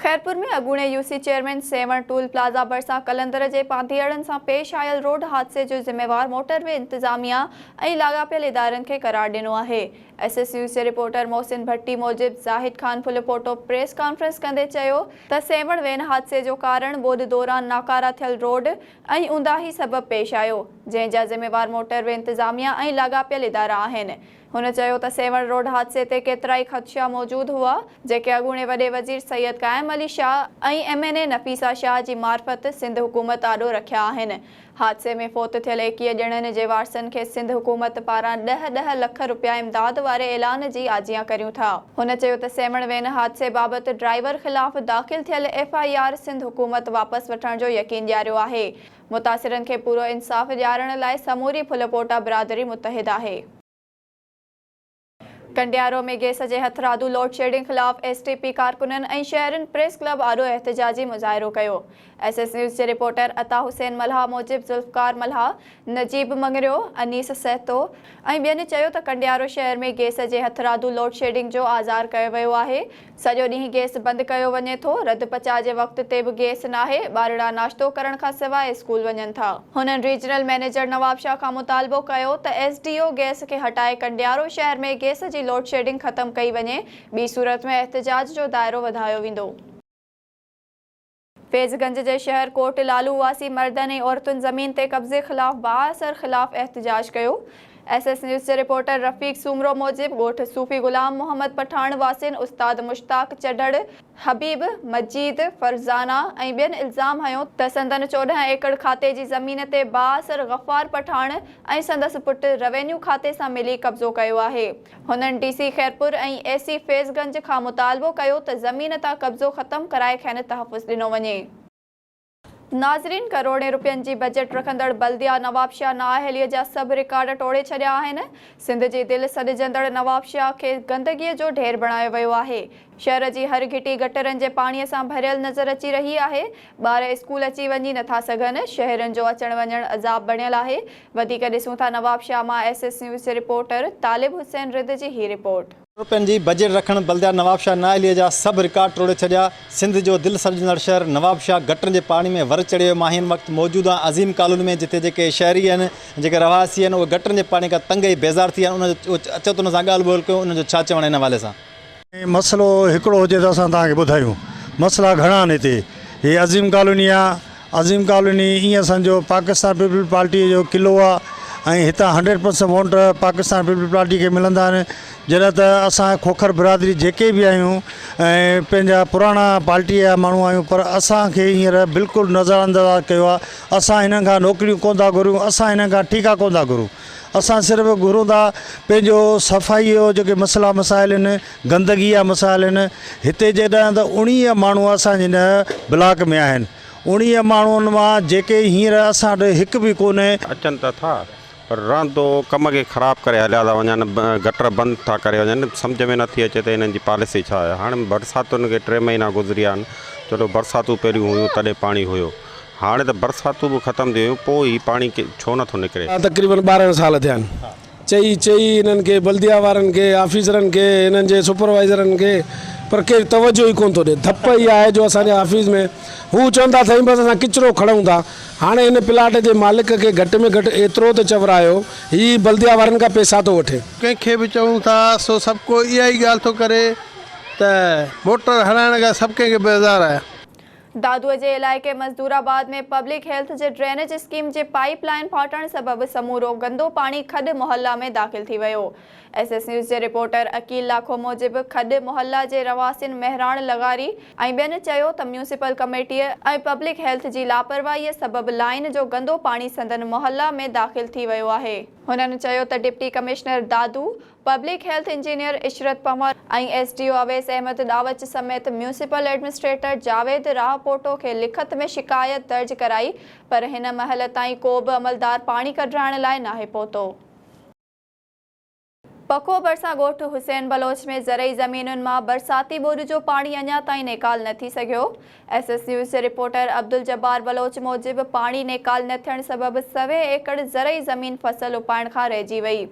خيرپور ۾ اڳوڻي U C chairman Sehwan toll plaza ڀرسان قلندر جي پانڌيئڙن سان پيش آيل روڊ حادثي جو ذميوار موٽر وي انتظاميا ۽ لاڳاپيل ادارن کي قرار ڏنو آهي ايس ايس نيوز جي رپورٽر محسن ڀٽي موجب زاهد خان ڦلپوٽو پريس ڪانفرنس ڪندي چيو ته سيوهڻ وين حادثي جو ڪارڻ ٻوڏ دوران ناڪارا ٿيل روڊ ۽ اونداهي سبب پيش آيو جنهن جا ذميوار موٽروي انتظاميه ۽ لاڳاپيل ادارا آهن هن چيو ته سيوهڻ روڊ حادثي تي ڪيترائي خدشا موجود هئا جيڪي اڳوڻي وڏي وزير سيد قائم Ali Shah ۽ M N A Nafisa Shah جي معرفت سنڌ حڪومت آڏو رکيا آهن حادثي ۾ فوت ٿيل ايڪيهه ڄڻن جي وارثن کي سنڌ حڪومت پاران ڏهه ڏهه لک رپيا امداد واري اعلان جي آجيان ڪريون ٿا. هن چيو ته سيوهڻ وين حادثي بابت ڊرائيور خلاف داخل ٿيل ايف آء آر سنڌ حڪومت واپس وٺڻ جو يقين ڏياريو آهي، متاثرن کي پورو انصاف ڏيارڻ لاء سموري ڦلپوٽا برادري متحد آهي. ڪنڊيارو ۾ گيس جي هٿرادو لوڊ شيڊنگ خلاف ايس ٽي پي ڪارڪنن ۽ شهرين پريس ڪلب آڏو احتجاجي مظاهرو ڪيو ايس ايس نيوز جي رپورٽر عطا حسين ملهه موجب ذوالفقار ملهه، نجيب مڱريو، انيس سهتو ۽ ٻين چيو ته ڪنڊيارو شهر ۾ گيس جي هٿرادو لوڊ شيڊنگ جو آزار ڪيو ويو آهي، سڄو ڏينهن گيس بند ڪيو وڃي ٿو، رڌ پچاء جي وقت تي به گيس ناهي، ٻارڙا ناشتو ڪرڻ کان سواء اسڪول وڃن ٿا. هنن ريجنل مئنيجر نوابشاهه کان مطالبو ڪيو ته ايس ڊي او گيس کي هٽائي ڪنڊيارو شهر ۾ گيس جي لوڊشيڊنگ ختم ڪئي وڃي، ٻي صورت ۾ احتجاج جو دائرو وڌايو ويندو. فيضگنج جي شهر ڪوٽ لالو واسي مردن ۽ عورتن زمين تي قبضي خلاف بااثر خلاف احتجاج ڪيو. ايس ايس نيوز جي رپورٽر رفيق سومرو موجب ڳوٺ صوفي غلام محمد پٺاڻ واسين استاد مشتاق چڍڙ، حبيب، مجيد، فرزانه ۽ ٻين الزام هنيو ته سندن چوڏهن ايڪڙ کاتي جي زمين تي بااثر غفار پٺاڻ ۽ سندس پٽ روينيو کاتي سان ملي قبضو ڪيو آهي. هنن ڊي سي خيرپور ۽ اي سي فيض گنج کان مطالبو ڪيو ته زمين تان قبضو ختم ڪرائي کين تحفظ ڏنو وڃي. ناظرين ڪروڙين رپين جي بجيٽ رکندڙ بلديا نوابشاهه نااهلي جا سڀ رڪارڊ ٽوڙي ڇڏيا آهن، سنڌ جي دل سڏجندڙ نوابشاهه کي گندگي جو ڍير بڻايو ويو آهي، شهر جي هر گهٽي گٽرن جي پاڻي سان ڀريل نظر اچي رهي آهي، ٻار اسڪول اچي وڃي نٿا سگهن، شهرين جو اچڻ وڃڻ عذاب بڻيل آهي، وڌيڪ ڏسون ٿا نوابشاهه مان ايس ايس نيوز جي رپورٽر طالب حسين رد جي هي رپورٽ. روپين جي بجيٽ رکڻ بلديات نوابشاهه نااهلي جا سڀ رڪارڊ ٽوڙي ڇڏيا، سنڌ جو دل سڏجندڙ شهر نوابشاهه گٽرن جي پاڻي ۾ ور چڙهي ويو، مان هن وقت موجود آهيان عظيم ڪالوني ۾ جتي جيڪي شهري آهن جيڪي رهواسي آهن اهي گٽرن جي پاڻي کان تنگ ۽ بيزار ٿي ويا آهن انهن جو اچو ته انهن سان ڳالهه ٻولهه ڪيون انهن جو ڇا چوڻ آهي ان حوالي سان. مسئلو هڪڙو هجي ته اسان توهان کي ٻڌايون. مسئلا گهڻا آهن هتي. هي عظيم ڪالوني آهي. عظيم ڪالوني ائين سمجهو پاڪستان پيپلز پارٽيء جو قلعو آهي ۽ هتان hundred percent vote Pakistan Peoples پارٽيء کي ملندا آهن. جڏهن ته اسان کوکر برادري جيڪي به آهيون ۽ پنهنجا پراڻا پارٽيء جا ماڻهو آهيون پر اسان کي هينئر بلڪل نظرانداز ڪيو آهي. اسان هنن کان نوڪريون ڪونه ٿا گهريون، اسان هنن کان ٺيڪا ڪونه ٿا گهرون. اسان صرف گهرون ٿا پنهنجو صفائي جو جيڪي مسئلا مسائل آهن گندگي جا مسائل آهن هتي جيڏانهن ته اوڻيهه ماڻهو اسان جي هن بلاڪ ۾ آهن اوڻيهه ماڻهن مان جيڪي هينئر اسان وٽ هڪ به ڪونهي اچن ته ٿا پر رهندو ڪم کي خراب ڪري هليا ٿا وڃن گٽر بند ٿا ڪري وڃن سمجهه ۾ نٿي اچي ته هنن جي پاليسي ڇا آهي هاڻ برساتن کي ٽي مهينا گذريا آهن چلو برساتون پهريون هيون تڏهن پاڻي هيو هاڻي ته برساتون به ختم ٿي ويون، پوء هي پاڻي ڇو نٿو نڪري؟ تقريبن ٻارهن سال ٿيا آهن. چئي چئي هنن کي، بلديه وارن کي، آفيسرن کي، هنن جي سپروائيزرن کي پر ڪير توجهه ئي ڪونه ٿو ڏئي. ڌپ اها آهي جو اسان جي آفيس ۾ هو چوندا سائين بس اسان ڪچرو کڻون ٿا. هاڻي هن پلاٽ جي مالڪ کي گهٽ ۾ گهٽ ايترو ته چور آهيو، هي بلديه وارن کان پيسا ٿو وٺي. ڪنهن کي به چئون ٿا سو سڀ ڪو اها ئي ڳالهه ٿو ڪري ته موٽر هلائڻ کان سڀ ڪنهن کي بيزار آهي. دادوء جي علائقي مزدور آباد ۾ پبلڪ هيلٿ جي ڊرينيج اسڪيم جي پائيپ لائين ڦاٽڻ سبب سمورو گندو پاڻي کڏ محله ۾ داخل ٿي ويو. ايس ايس نيوز جي رپورٽر عقيل لاکو موجب کڏ محله جي رهواسين مهراڻ لغاري ۽ ٻين چيو ته ميونسپل ڪميٽيء ۽ پبلڪ هيلٿ جي لاپرواهيء سبب لائين جو گندو پاڻي سندن محله ۾ داخل ٿي ويو آهي. هنن چيو ته deputy commissioner Dadu, public health engineer Ishrat Panwar ۽ S D O Awais Ahmed ڏاوچ سميت ميونسپل ايڊمنسٽريٽر جاويد راهپوٽو کي لکت ۾ شڪايت درج ڪرائي پر هن مهل تائين ڪو به عملدار پاڻي ڪڍرائڻ لاء ناهي پهتو. پکو ڀرسان ڳوٺ حسين بلوچ ۾ زرعي زمينن مان برساتي ٻوڏ جو پاڻي اڃا تائين نيڪال نه ٿي سگهيو ايس ايس نيوز جي رپورٽر عبدالجبار بلوچ موجب پاڻي نيڪال نه ٿيڻ سبب سوين ايڪڙ زرعي زمين فصل اپائڻ کان رهجي وئي،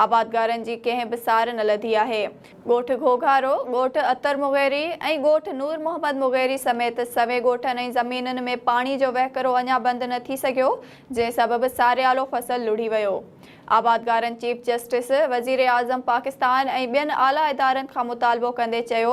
آبادگارن جي ڪنهن به سار نه لڌي آهي، ڳوٺ گهوگهارو، ڳوٺ عطر مغيري ۽ ڳوٺ نور محمد مغيري سميت سوين ڳوٺن ۽ زمينن ۾ پاڻي جو وهڪرو اڃا بند نه ٿي سگهيو، جنهن سبب ساريالو فصل لڙهي ويو، آبادگارن چيف جسٽس، وزيراعظم پاڪستان ۽ ٻين اعليٰ ادارن کان مطالبو ڪندي چيو